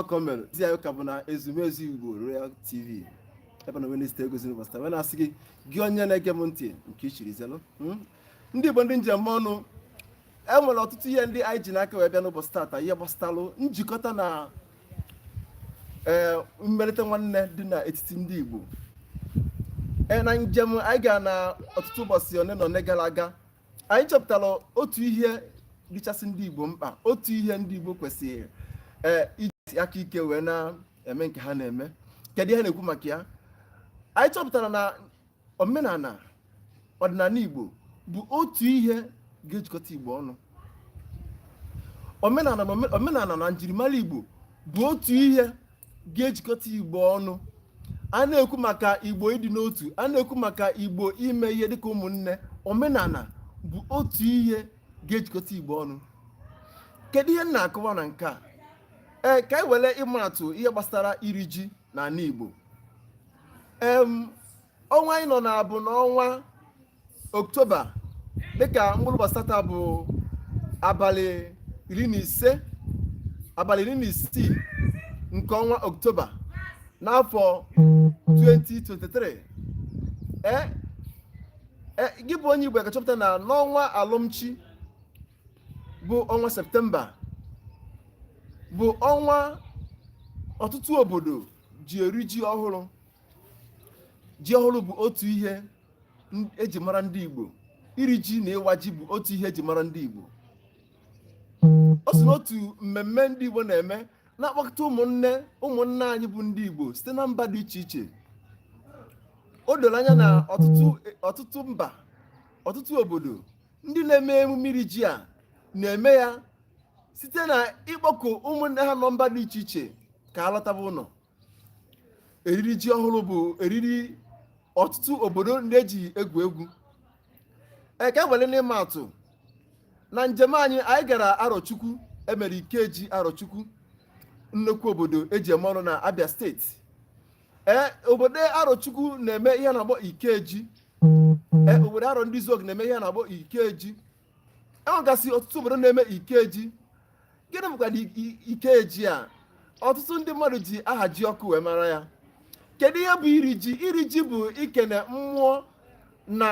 ọkọ mere zi ya ọ ka bụ na ezumezu igbo royal tv ebe m nọ wee na-ezi gị ozi n'ụbọchị taa wee na-asị gị gị onye na-ege m ntị nke i chiri zelụ hmm? ndị igbo ndị njem ọnụ e nwere ọtụtụ ihe ndị anyị ji n'aka wee bịa n'ụbọchị taata ihe gbasatalụ njikọta na ee eh, mmerịta nwanne dị n'etiti ndị igbo ee eh, na njem anyị gara na ọtụtụ ụbọchị one na one gara aga anyị chọpụtara otu ihe dịchasị ndị Igbo mkpa otu ihe ndị Igbo kwesịrị ee iji aka ike wee na-eme nke ha na-eme kedu ihe a na-ekwu maka ya anyị chọpụtara na omenala ọdịnala Igbo bụ otu ihe ga-ejikọta Igbo ọnụ omenala na njirimara Igbo bụ otu ihe ga-ejikọta igbo ọnụ a na-ekwu maka igbo ịdị n'otu a na-ekwu maka igbo ime ihe dịka ụmụnne omenala bụ otu ihe ga-ejikọta igbo ọnụ kedu ihe m na-akọwa na nke a ee ka anyị were ịma atụ ihe gbasara iri ji n'ala igbo ọnwa anyị nọ na ya bụ n'ọnwa oktoba dịka mkpụrụ ụbọchị taata bụ abalị iri na ise abalị iri na isii nke ọnwa oktoba n'afọ 2023 e, e, gị bụ onye igbo ga-achọpụta na n'ọnwa alọm chi bụ ọnwa septemba bụ ọnwa ọtụtụ obodo ji eri ji ọhụrụ ji ọhụrụ bụ otu ihe eji mara ndị Igbo iri ji na ịwa ji bụ otu ihe eji mara ndị Igbo o so n'otu mmemme ndị Igbo na-eme na-akpọkọta ụmụnne anyị bụ ndị Igbo site na mba dị iche iche o doro anya na ọtụtụ mba ọtụtụ obodo ndị na-eme emume iri ji a na-eme ya site na ịkpọku ụmụnne ha nọ mba dị iche iche ka ha lọtaba ụlọ eriri ji ọhụrụ bụ eriri ọtụtụ obodo ndị eji egwu egwu ka e were n'ịma atụ na njem anyị anyị gara arọchukwu e mere ikeji arọchukwu nnukwu obodo eji eme ọnụ na abia steeti ee obodo arọchukwu na-eme ihe a na-akpọ ikeji ee obodo arọndizuọgụ na-eme ihe a na-akpọ ikeji e nwegasị ọtụtụ obodo na-eme ikeji gịnị bụkwanụ ikeji a ọtụtụ ndị mmadụ ji ahajiọkụ wee mara ya kedu ihe bụ iri ji iri ji bụ ikene mmụọ na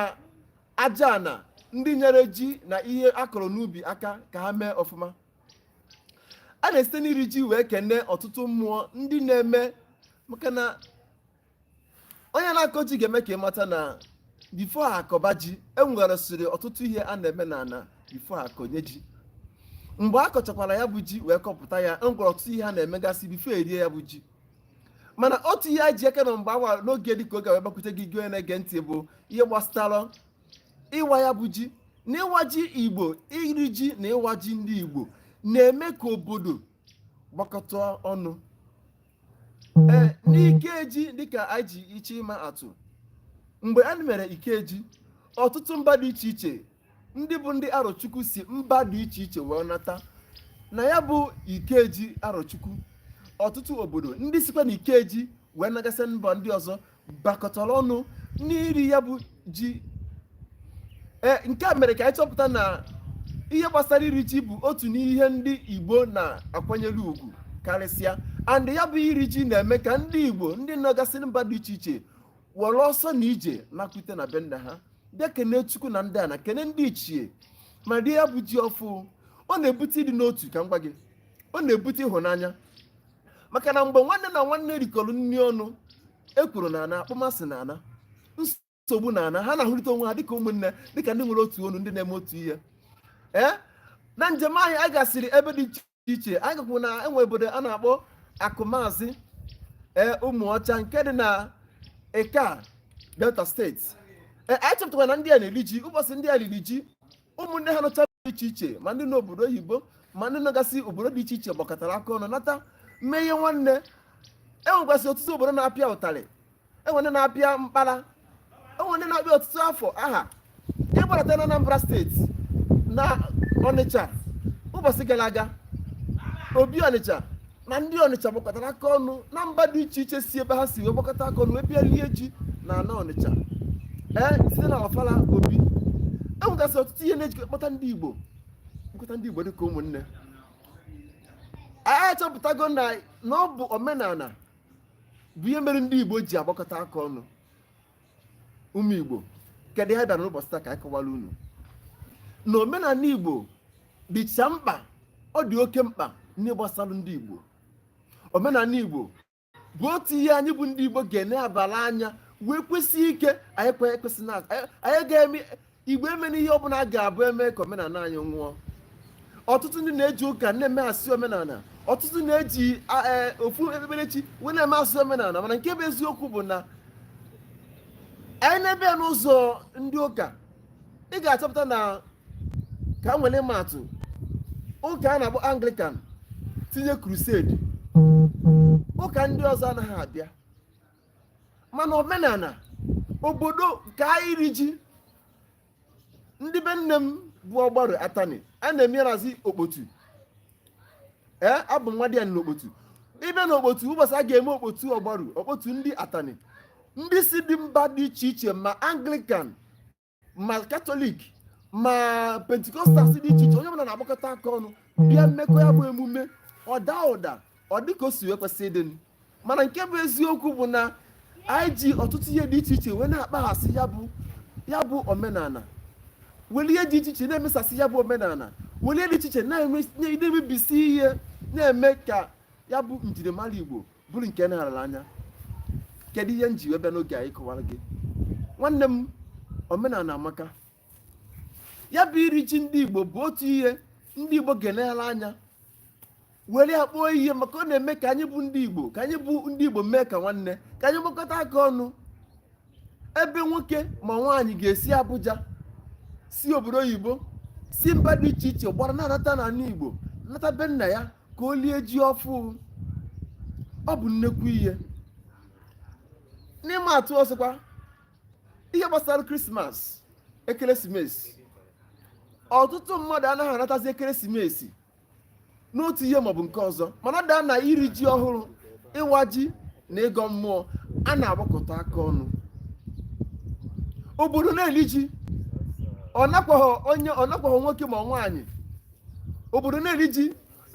aja ana ndị nyere ji na ihe a kọrọ n'ubi aka ka ha mee ọfụma a na-esite n'iri ji wee kene ọtụtụ mmụọ ndị na-eme maka na onye na-akọ ji ga-eme ka ị mata na before a kọba ji enweresịrị ọtụtụ ihe a na-eme na ana before a kọnye ji mgbe a kọchakwara ya bụ ji wee kọpụta ya enwere ọtụtụ ihe a na-emegasị before e rie ya bụ ji mana otu ihe a ji aka na mgbe awa n'oge dịka oge wee gbakwute gị gị na-ege ntị bụ ihe gbasara ịwa ya bụ ji na ịwa ji igbo iri ji na ịwa ji ndị igbo na-eme ka obodo gbakọta ọnụ ee n'ikeji dịka anyị ji iche ịma atụ mgbe a mere ikeji ọtụtụ mba dị iche iche ndị bụ ndị arọchukwu si mba dị iche iche wee nata na ya bụ ikeji arọchukwu ọtụtụ obodo ndị sikwa na ikeji wee nagasị mba ndị ọzọ gbakọtara ọnụ n'iri ya bụ ji e, nke a mere ka anyị chọpụta na ihe gbasara iri ji bụ otu n'ihe ndị Igbo na-akwanyere ugwu karịsịa and ya bụ iri ji na-eme ka ndị Igbo ndị nọgasị mba dị iche iche were ọsọ na ije nakwute na be nna ha bịa kene chukwu na ndị ana kene ndị ichie ma rie ya bụ ji ọfụụ ọ na-ebute ịdị n'otu ka m gwa gị ọ na-ebute ịhụnanya maka na mgbe nwanne na nwanne rikọrọ nri ọnụ ekworo na-ana akpọmasị na-ana nsogbu na-ana ha na-ahụrịta onwe ha dịka ụmụnne dịka ndị nwere otu onu ndị na-eme otu ihe ee na njem anyị a gasịrị ebe dị iche iche anyị gakwuru na enwe obodo a na-akpọ akụmazi ee ụmụọcha nke dị na ika delta steeti ee anyị chọpụtara na ndị a na-eri ji ụbọchị ndị a riri ji ụmụnne ha nọcha dị iche iche ma ndị nọ obodo oyibo ma ndị nọgasị obodo dị iche iche gbakọtara aka ọnụ nata mee ihe nwanne enwegasị ọtụtụ obodo na-apịa ụtarị enwe ndị na-apịa mkpara enwe ndị na-apịa ọtụtụ afọ aha ị gbadata na Anambra steeti na Ọnịcha ụbọchị gara aga obi Ọnịcha na ndị ọnịcha gbakọtara aka ọnụ na mba dị iche iche si ebe ha si wee gbakọta aka ọnụ wee bịa lie ji na ana ọnịcha ee site na ọfala obi enwegasị ọtụtụ ihe na-ejikọ kpọta ndị igbo nkọta ndị igbo dịka ụmụnne anyị achọpụtago na na ọ bụ omenala bụ ihe mere ndị igbo ji agbakọta aka ọnụ ụmụ igbo kedụ ihe bịara n'ụbọchị taa ka anyị kọwara unu na omenala igbo dịcha mkpa ọ dị oke mkpa n'ihe gbasara ndị igbo omenala igbo bụ otu ihe anyị bụ ndị igbo ga-enebala anya wee kwesie ike anyị kwesị na anyị ga-eme igbo emena ihe ọ bụla ga-abụ eme ka omenala anyị nwụọ ọtụtụ ndị na-eji ụka na-eme asị omenala ọtụtụ na-eji e, ofu okpukperechi wee na-eme asị omenala mana nke bụ eziokwu bụ na anyị nebe ya n'ụzọ ndị ụka ị ga-achọpụta na ka m were ma atụ ụka a na-akpọ anglican tinye crusade ụka ndị ọzọ anaghị abịa mana omenala obodo ka iri ji ndị be nne m bụ ọgbaru atani a na-emerazi okpotu ee abụ nwadịanị n'okpotu ibe na okpotu ụbọchị a ga-eme okpotu ọgbaru okpotu ndị atani ndị si dị mba dị iche iche ma anglikan ma katọlik ma pentikọstal dị iche iche onye ọbụla na-agbakọta aka ọnụ bịa mekọọ ya bụ emume ọ daa ụda ọ dịka o si wee kwesị ịdị mana nke bụ eziokwu bụ na anyị ji ọtụtụ ihe dị iche iche wee na-akpaghasị ya bụ omenala welụ ihe dị iche iche na-emesasị ya bụ omenala were ihe dị iche iche na-emebisi ihe na-eme ka ya bụ njirimara igbo bụrụ nke na-arara anya kedu ihe m ji wee bịa n'oge a ịkọwara gị nwanne m omenala amaka ya bụ iri ji ndị igbo bụ otu ihe ndị igbo ga-eleghala anya were ya kpọọ ihe maka ọ na-eme ka anyị bụ ndị igbo ka anyị bụ ndị igbo mee ka nwanne ka anyị gbakọta aka ọnụ ebe nwoke ma nwaanyị ga-esi abuja si obodo oyibo si mba dị iche iche gbara na-anata n'ala igbo nata be nna ya ka o lie ji ọfụ ọ bụ nnekwu ihe n'ịma atụ ọzọkwa ihe gbasara krismas ekeresimesi ọtụtụ mmadụ anaghị anatazi ekeresimesi n'otu ihe maọbụ nke ọzọ mana a bịa na iri ji ọhụrụ ịwa ji na ịgọ mmụọ a na-agbakọta aka ọnụ obodo na-eli ji ọ makwaghị nwoke ma nwaanyị obodo na-eli ji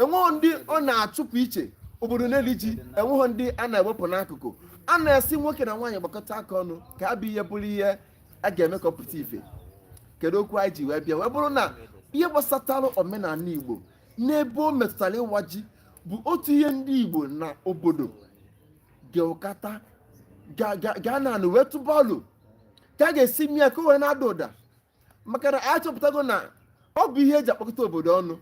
enweghị ndị ọ na-achụpụ iche obodo na-eli ji enweghị ndị a na-ewepụ n'akụkụ a na-asị nwoke na nwaanyị gbakọta aka ọnụ ka ya bụ ihe bụrụ ihe a ga-eme ka ọ pụta ife kedu okwu anyị ji wee bịa wee bụrụ na ihe gbasatara omenala igbo n'ebe o metụtara ịwa ji bụ otu ihe ndị igbo na obodo ga-agbakọta aka ọnụ wee tụba alo ka a ga-esi mee ya ka o wee na-ada ụda maka na a chọpụtago na ọ bụ ihe eji akpọkọta obodo ọnụ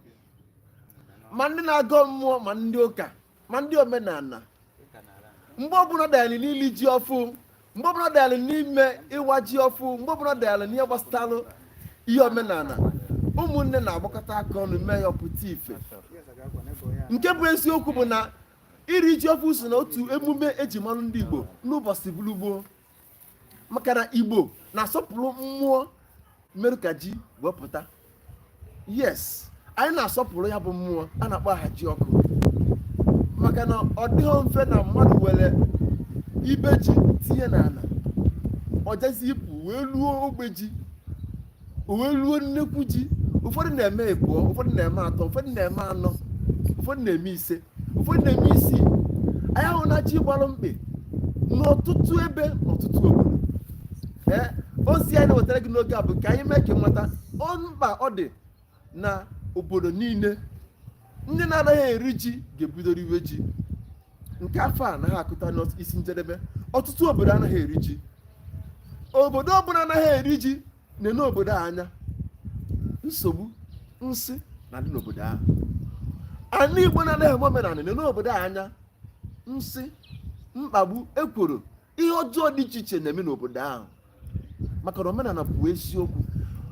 ma ndị na-agọ mmụọ ma ndị ụka ma ndị omenala mgbe ọbụla a bịalụ n'ili ji ọfụ mgbe ọbụla a bịalụ n'ime ịwa ji ọfụ mgbe ọbụla a bịalụ n'ihe gbasatalụ ihe omenala ụmụnne na-agbakọta aka ọnụ mee ya ọ pụta ife nke bụ eziokwu bụ na iri ji ọfụ so na otu emume eji malụ ndị Igbo n'ụbọchị bụrụ gboo maka na igbo na-asọpụrụ mmụọ mere ka ji wee pụta yes anyị na-asọpụrụ ya bụ mmụọ a na-akpọ ahajiọkụ maka na ọ dịghị mfe na mmadụ were ibe ji tinye n'ala ọ jazi ipu wee luo ogbe ji o wee luo nnekwu ji ụfọdụ na-eme ịbụọ ụfọdụ na-eme atọ ụfọdụ na-eme anọ ụfọdụ na-eme ise ụfọdụ na-eme isii anyị ahụ na ji gbalụ mkpị n'ọtụtụ ebe n'ọtụtụ obodo ee ozi anyị na-ewetara gị n'oge a bụ ka anyị mee ka ị mata mkpa ọ dị na obodo niile ndị na-anaghị eri ji ga-ebido riwe ji nke afọ a anaghị akụta n'isi njedebe ọtụtụ obodo anaghị eri ji obodo ọbụla anaghị eri ji na-ene obodo anya nsogbu nsi na-adị n'obodo ahụ ana igbo na-anaghị eme omenala na-ene obodo anya nsi mkpagbu ekworo ihe ọjọọ dị iche iche na-eme n'obodo ahụ maka na omenala bụ eziokwu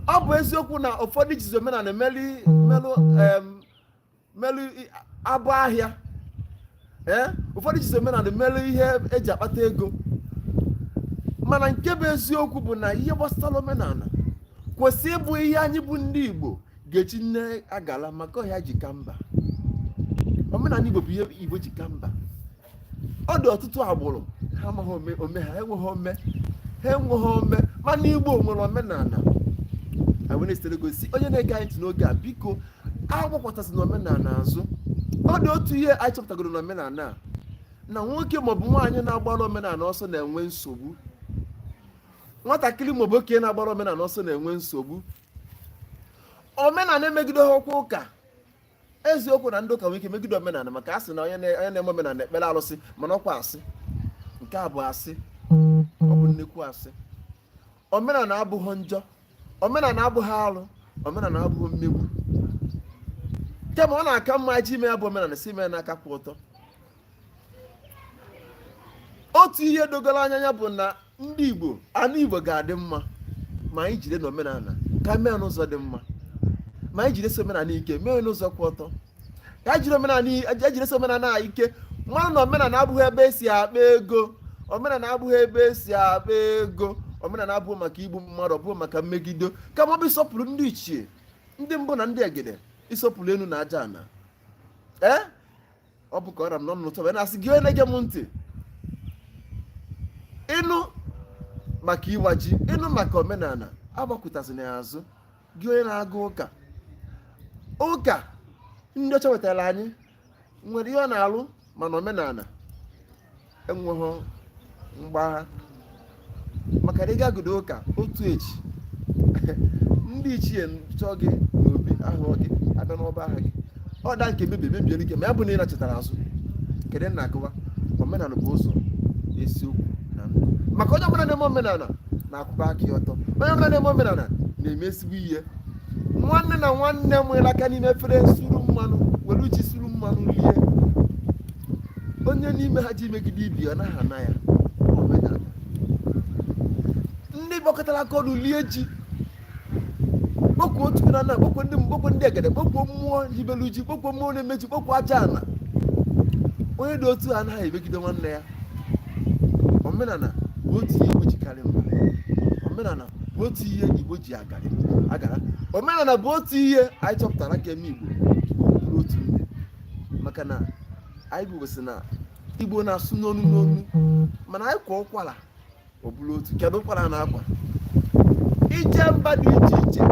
ọ bụ eziokwu na ụfọdụ jizi omenala melu melu abọ ahịa ee eh? ụfọdụ jizi omenala melu ihe eji akpata ego mana nke bụ eziokwu bụ na ihe gbasara omenala kwesị ịbụ ihe anyị bụ ndị Igbo ga-eji mee ngala maka ọ ihe anyị ji ka mba omenala Igbo bụ ihe Igbo ji ka mba ọ dị ọtụtụ agbụrụ ha amaghị ome ha enweghị ome ha enweghị ome mana igbo nwere omenala anyị wee na-esitere gosi onye na-ege anyị ntị n'oge a biko agbakwụtazịna omenala azụ ọ dị otu ihe anyị chọpụtagoro na omenala a na nwoke maọbụ nwaanyị na-agbara omenala ọsọ na-enwe nsogbu nwatakịrị maọbụ okenye na-agbara omenala ọsọ na-enwe nsogbu omenala emegide ha ọkwa ụka eziokwu na ndị ụka nwere ike megide omenala maka a sị na onye na-eme omenala ekpere alụsị mana ọkwa asị nke a bụ asị ọ bụ nnekwu asị omenala abụghị njọ omenala abụghị alụ omenala abụghị mmegbu kama ọ na-aka mma ji ime ya bụ omenala si ime n'aka kwụ ọtọ otu ihe dogoro anya ya bụ na ndị Igbo ana Igbo ga-adị mma ma anyị jide n'omenala aka mee n'ụzọ dị mma ma anyị jidesi omenala ike mee n'ụzọ kwụ ọtọ ka anyị jiri omenala ejidesi omenala anyị ike manụ na omenala abụghị ebe esi akpa ego omenala abụghị ebe esi akpa ego omenala abụghị maka igbu mmadụ ọ bụghị maka mmegido kama ọ bụ ịsọpụrụ ndị ichie ndị mbụ na ndị egede ịsọpụrụ enu na aja ana ee eh? ọ bụ ka ọ ra m n'ọnụ n'ụtụtụ a wee na-asị gị onye na-ege m ntị ịnụ maka ịwa ji ịnụ maka omenala agbakwụtazịna ya azụ gị onye na-aga ụka ụka ndị ọcha wetara anyị nwere ihe ọ na-alụ mana omenala enweghị mgbagha maka na ị gagodu ụka otu echi ndị ichie chọọ gị n'obi ahụ gị abịa n'ọba aha gị ọ da nke mebie mebie ike ma ya bụ na ị nachetara azụ kedu ihe m na-akọwa omenala bụ ụzọ eziokwu na ndụ maka onye ọbụla na-eme omenala na-akwụba aka ya ọtọ onye ọbụla na-eme omenala na-eme ezigbo ihe nwanne na nwanne nwere aka n'ime efere suru mmanụ were ji suru mmanụ lie onye n'ime ha ji megide ibe ọ naghị ana ya ndị gbakọtara aka ọnụ lie ji kpọkwuo chukwu na nna kpọkwuo ndị mbụ kpọkwuo ndị egede kpọkwuo mmụọ hibelu ji kpọkwuo mmụọ na-eme ji kpọkwuo aja ala onye dị otu a anaghị emegide nwanne ya omenala bụ otu ihe igbo ji karị mba omenala bụ otu ihe igbo ji agara agara omenala bụ otu ihe anyị chọpụtara ga-eme igbo bụrụ otu ihe maka na anyị bụ sị na igbo na-asụ n'onu n'onu mana anyị kwaa ụkwara ọ bụrụ otu kedu ụkwara a na-akwa ije mba dị iche iche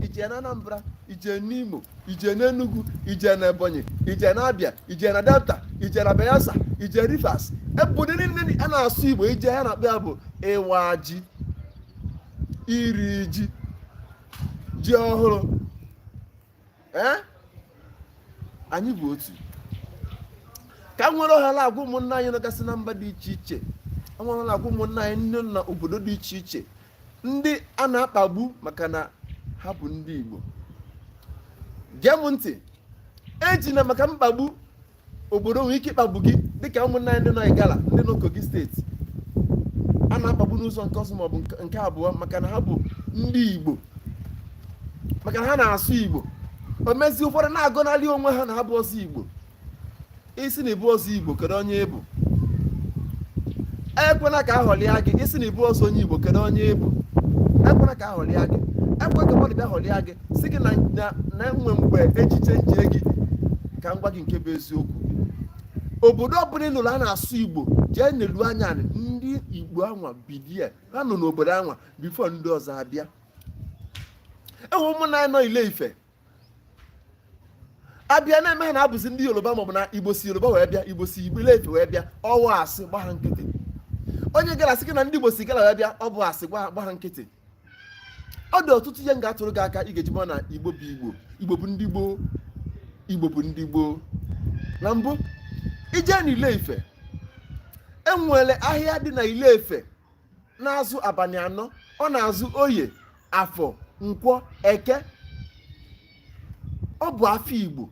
ije na anambra ije n'imo ije na Enugu ije na Ebonyi ije na Abia ije na Delta ije na Bayelsa ije Rivers obodo niile a na-asụ Igbo ije ihe a na-akpọ ya bụ ịwa ji iri ji ji ọhụrụ ee anyị bụ otu ka m were ohere a gwa ụmụnna anyị nọgasị na mba dị iche iche were ohere a gwa ụmụnna anyị nọ na obodo dị iche iche ndị a na-akpagbu maka na ha bụ ndị Igbo gee m ntị ejina maka mkpagbu obodo nwere ike ịkpagbu gị dịka ụmụnna anyị ndị nọ Igala ndị nọ Kogi steeti a na-akpagbu n'ụzọ nke ọzọ maọbụ nke abụọ maka na ha bụ ndị Igbo maka na ha na-asụ Igbo o mezie ụfọdụ na-agọnarị onwe ha na ha abụhọzị Igbo ị sị na ị bụhọzị igbo kedu onye ị bụ ekwela ka a ghọlịa gị ị sị na ị bụhọzị onye igbo kedu onye ị bụ ekwela ka a ghọlịa gị ekwela ka mmadụ bịa ghọlịa gị sị gị na enwe mgbe echiche nche gị ka m gwa gị nke bụ eziokwu obodo ọbụla ị nụrụ a na-asụ igbo jee nelu anya ndị igbo anwa bidie ha nọ n'obodo anwa before ndị ọzọ abịa enwe ụmụnna anyị nọ ile ife abịa na-eme ha na ha bụzi ndị yoruba maọbụ na igbo si yoruba wee bịa igbo si igbo ile ife wee bịa ọ wụ asị gba ha nkịtị onye igala sị gị na ndị igbo si igala wee bịa ọ bụ asị gba ha nkịtị ọ dị ọtụtụ ihe m ga-atụrụ gị aka ị ga-eji mara na igbo bụ igbo igbo bụ ndị gboo igbo bụ ndị gboo na mbụ ije na ile ife enwere ahịa dị na ile ife na-azụ abanị anọ ọ na-azụ oye afọ nkwọ eke ọ bụ afa igbo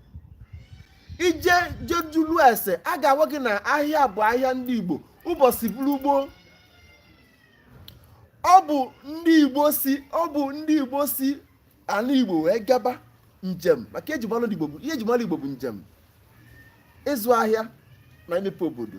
i je je jụlụ ese a ga-agwa gị na ahịa bụ ahịa ndị igbo ụbọsị bụrụ gboo ọ bụ ọ bụ ndị igbo si ana igbo wee gaba njem maka ihe e ji mara igbo bụ njem ịzụ ahịa na imepe obodo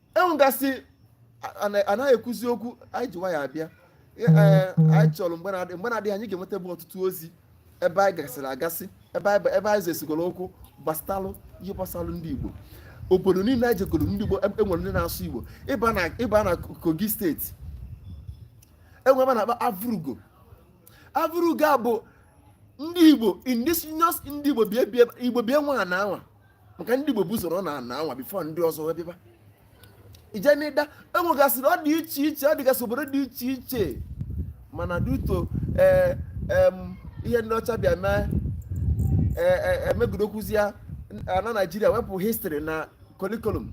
enwegasị anaghị ekwuzi okwu anyị ji nwayọ abịa e, anyị chọrọ mgbe na-adịghị anya anyị ga-ewetaba ọtụtụ ozi ebe anyị gasịrị agasị ebe anyị jesịgoro okwu gbasatalụ ihe gbasalụ ndị Igbo obodo niile anyị jegoro ndị Igbo enwere e ndị na-asụ Igbo ị baa na Kogi steeti enwere ebe a na-akpọ Avurugo Avurugo a bụ ndị Igbo indigenous ndị Igbo bi nwe ana anwa maka ndị Igbo bu ụzọ ruo na ana anwa before ndị ọzọ wee bịaba i jee n'Idah enwegasịrị ọ dị iche iche ọ dịgasị obodo dị iche iche mana due to ee ihe ndị ọcha bịa mee emegidokwuzi ya na naijiria wepụ history na curriculum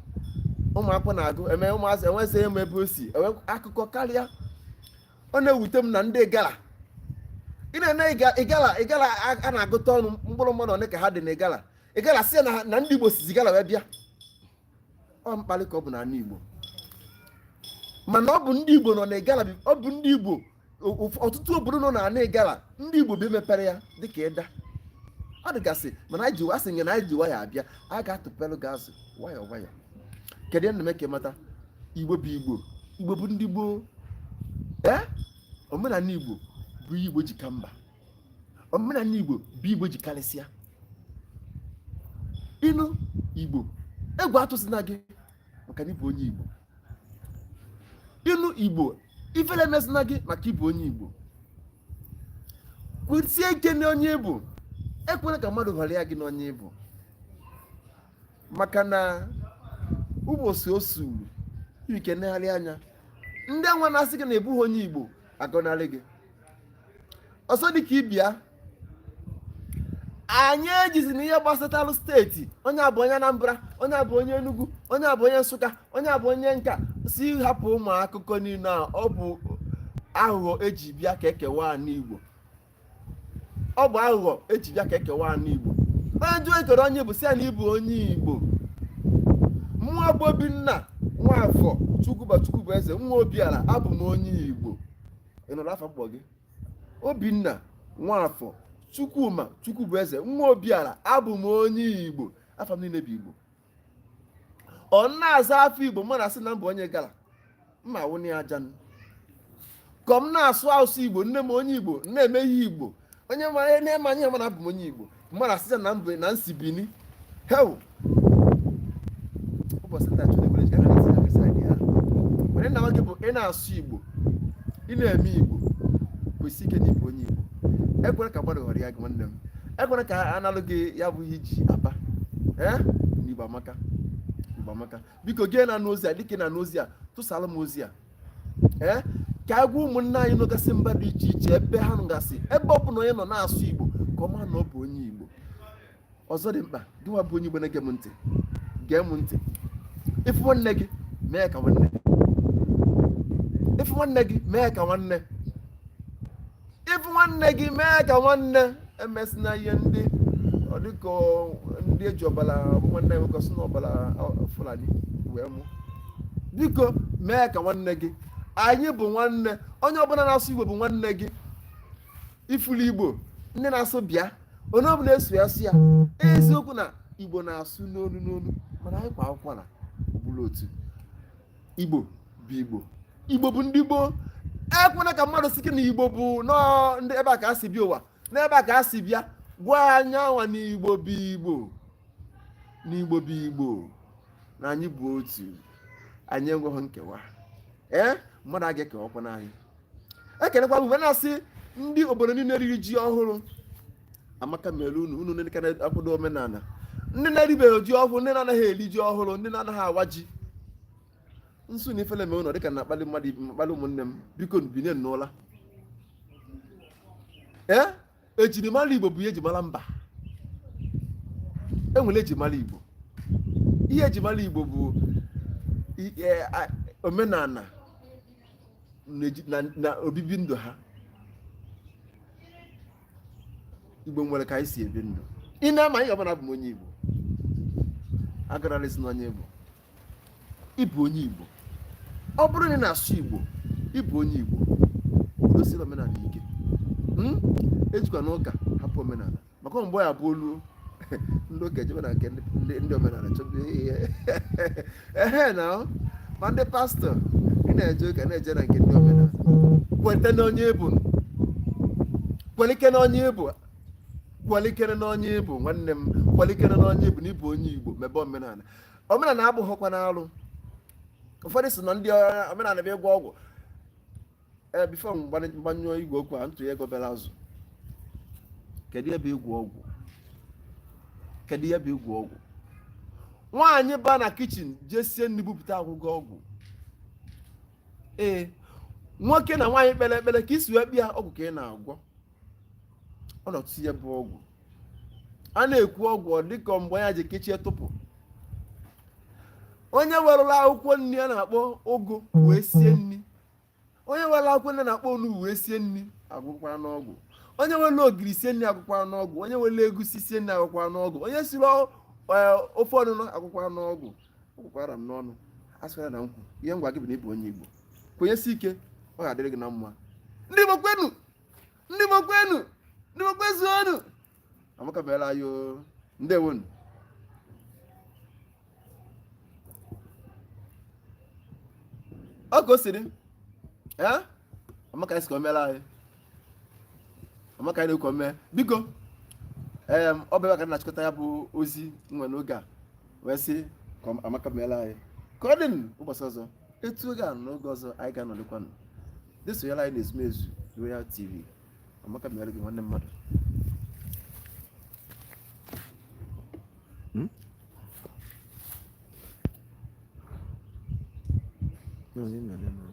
ụmụakwụkwọ na-agụ eme ụmụazị enwezi emu ebe o si enwe akụkọ karịa ọ na-ewute m na ndị igala ị na-ene igala igala a na-agụta ọnụ mkpụrụ mmadụ one ka ha dị na igala igala sị ya na na ndị igbo sizi igala wee bịa ọ mkparị ka ọ bụ na ana igbo mana ọ bụ ndị igbo nọ na igala ọ bụ ndị igbo ọtụtụ obodo nọ na ana igala ndị igbo bi mepere ya dịka idah ọ dịgasị mana anyị jiwa asị nye na anyị ji nwayọ abịa a ga-atụpelụ gị azụ nwayọ nwayọ kedu ihe na-eme ka ị mata igbo bụ igbo igbo bụ ndị gboo ee omenala igbo bụ igbo ji ka mba omenala igbo bụ igbo ji karịsịa ị nụ igbo egwu atụsịna gị maka na ị bụ onye igbo ị nụ igbo ifele emesịna gị maka ị bụ onye igbo kwụsie ike na onye ị bụ ekwela ka mmadụ ghọrịa gị na onye ị bụ maka na ụbọchị o sulu ị ka negharịa anya ndị anwa na-asị gị na ị bụghị onye igbo agọnarị gị ọzọ dị ka ibe ya anyị ejizina ihe gbasatara steeti onye a bụ onye Anambra onye a bụ onye Enugu onye a bụ onye Nsụka onye a bụ onye nka sị hapụ ụmụ akụkọ niile a ọ bụ aghụghọ e ji bịa ka e kewaa ana Igbo ọ bụ aghụghọ e ji bịa ka e kewaa ana igbo onye jụọ gị kedu onye ị bụ sị ya na ị bụ onye igbo mụwa bụ obinna nwafọ chukwuma chukwubueze nwa obiara abụ m onye igbo ị nụrụ afa m kpọ gị obinna nwafọ chukwuma chukwubueze nwa obiara abụ m onye igbo afa m niile bụ igbo ọ na-aza afa igbo mmadụ asị na m bụ onye igala mma wụnye aja ka m na-asụ asụsụ igbo nne m onye igbo na-eme ihe igbo onye mara ihe nee m anya ma na abụ m onye igbo mmadụ asị na mba na m si bini hew ụbọchị nta chụrụ ebere jikara na sịga kesa gị ha were na nwoke bụ ị na-asụ igbo ị na-eme igbo kwesie ike na ị bụ onye igbo ekwena ka mmadụ ghọrịa gị nwanne m ekwena ka a nalụ gị ya bụ ihe i ji aba ee n'igbo amaka igbo amaka biko gị na-anụ ozi a dịka ị na-anụ ozi a tụsara m ozi a ee ka agwa ụmụnne anyị nọgasị mba dị iche iche ebe ha nọgasị ebe ọ bụla onye nọ na-asụ igbo ka ọ ma na ọ bụ onye igbo ọzọ dị mkpa gịnwa bụ onye igbo na-ege m ntị gee m ntị ị fụ nwanne gị mee ka nwanne ị fụ nwanne gị mee ka nwanne ị fụ nwanne gị mee ka nwanne emesịna ihe ndị ọ dịka ndị eji ọbara nwanne nwoke sị na ọbara fulani wee mụ biko mee ka nwanne gị anyị bụ nwanne onye ọbụla na-asụ igbo bụ nwanne gị ị fụlụ igbo ndị na-asụ bịa onye ọbụla eso ya sụ ya eziokwu na igbo na-asụ n'onu n'onu mana anyị kwaa ụkwala bụrụ otu igbo bụ igbo igbo bụ ndị gboo ekwena ka mmadụ sị gị na igbo bụ nọọ ndị ebe a ka a si bịa ụwa n'ebe a ka a si bịa gwa onye anwa na igbo bụ igbo na igbo bụ igbo na anyị bụ otu anyị enweghị nkewa ee mmadụ aga ekewakwana anyị ekenekwa m na-asị ndị obodo niile riri ji ọhụrụ amaka mere unu unu ndị na-akwado omenala ndị na-eribeghị ji ọhụrụ ndị na-anaghị eri ji ọhụrụ ndị na-anaghị awa ji m sị na ifele mee unu dịka na-akpali mmadụ akpali ụmụnne m biko binie n'ụla ee ejirimara igbo bụ ihe ejimara mba enwere ejimara igbo ihe ejimara igbo bụ omenala na obibi ndụ ha igbo nwere ka anyị si ebi ndụ ị nee m anya ị ma na abụ m onye igbo agarala isi na onye igbo ị bụ onye Igbo ọ bụrụ na ị na-asụ Igbo ị bụ onye Igbo dosiri omenala ike hmm? ejikwana ụka hapụ omenala maka mgbe ya bụ olu ndị ụka ejebe na nke ndị omenala chọba ihe ehe na ma ndị pastọ ị na-eje ụka na-eje na nke ndị omenala kweta na onye ị bụ kwelike na onye ị bụ kwalikere n'onye ị bụ nwanne m kwalikere n'onye ị bụ na ị bụ onye igbo mebe omenala omenala abụghịkwanụ alụ ụfọdụ sị na ndị omenala bụ ịgwọ ọgwụ ee eh, bifo m gbanyụọ igwe okwu a ntụnye ego bịara azụ kedu ihe bụ ịgwọ ọgwụ kedu ihe bụ ịgwọ ọgwụ nwaanyị ba na kichin jee sie nri bupụta a gwọgo ọgwụ ee nwoke na nwaanyị kpere ekpere ka i si wee bịa ọgwụ ka ị na-agwọ ọ nọtụ ihe bụ ọgwụ a na-ekwu ọgwụ ọ dịka mgbe ya ji kechie tụpụ onye wele akwụkwọ nri a na-akpọ ụgụ wee sie nri onye wele akwụkwọ nri a na-akpọ onugbu wee sie nri agwọkwana ọgwụ onye wele ogiri sie nri agwọkwana ọgwụ onye wele egusi sie nri agwọkwana ọgwụ onye siri ofe ọgbọnọ agwọkwana ọgwụ agụkwala m n'ọnụ asịkwala na m kwu ihe m na-agwa gị bụ na ịbụ onye Igbo kwenyesi ike ọ ga-adịrị gị na mma ndị Igbo kwenu ndị Igbo kwenu ndị Igbo kwezuonu amaka meela anyị o ndewonu ọ ka o siri ee amaka anyị sị ka o meela anyị amaka anyị na-ekwu mee biko ee ọ bụ ebe a ka m na-achịkọta ya bụ ozi m nwe n'oge a wee sị ka amaka meela anyị ka ọ dị ụbọchị ọzọ etu oge a n'oge ọzọ anyị ga-anọlikwanụ ndị sonyela anyị na Ezumezu Royal TV amaka meela gị nwanne mmadụ hmm? No, no, no, no.